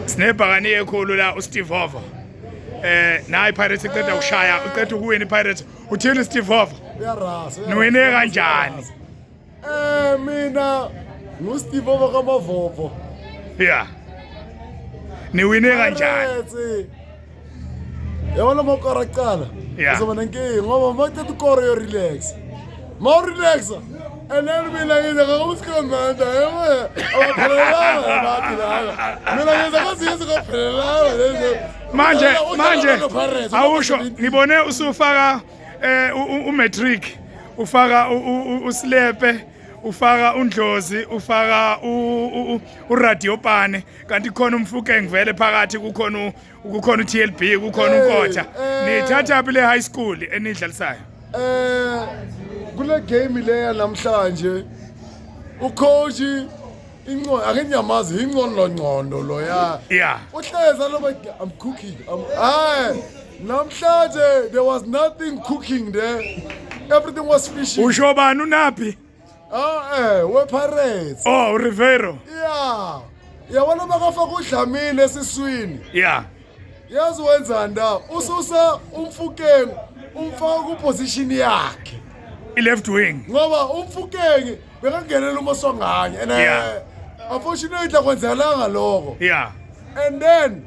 sinebhakani ekhulu la usteve hova eh nayi pirates iqeda ukushaya uqeda ukuwina ipirates uthini steve hova niwine kanjani eh mina ngusteve hova kamavovo ya niwine kanjani yabona uma ukora kuqala Yeah. uzoba nenkinga ngoba uma uthatha ukora uyorelaxa ma urelaxa and then mina ngize ngakumsikhomanda yebo abaphelelanga nathi laba mina ngize kwaziyenza kwaphelelanga lezo manje manje awusho ngibone usufaka eh u- u- umatric ufaka u- u- u- usilepe ufaka undlozi ufaka u- u- u- uradiopane kanti khona umfukeng vele phakathi kukhona kukhona uTLB kukhona uNkotha nithatha phi le high school enidlalisayo eh kule game leya namhlanje ucoach inqondo ake ngiyamazi inqondo ngqondo lo ya yeah uhleza lo i'm cooking I'm, hayi namhlanje there was nothing cooking there everything was fishy usho bani unaphi Oh eh wePirates. Oh uRiveiro. Yeah. Yabona makafaka udlamini esiswini. Yeah. Yazi wenzani la? Ususa umfukeni umfaka ku position yakhe. I-left wing. Ngoba umfukeni bekangenela uma songanye. And Yeah. eh, unfortunately akwenzakalanga lokho. Yeah. And then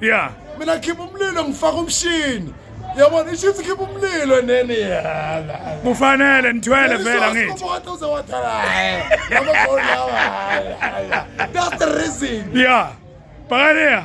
yeah mina khipha umlilo ngifaka umshini yabona ishithi ikhipha umlilo enene yala kufanele nithwele vele angithi that's the reason yeah bhakaniya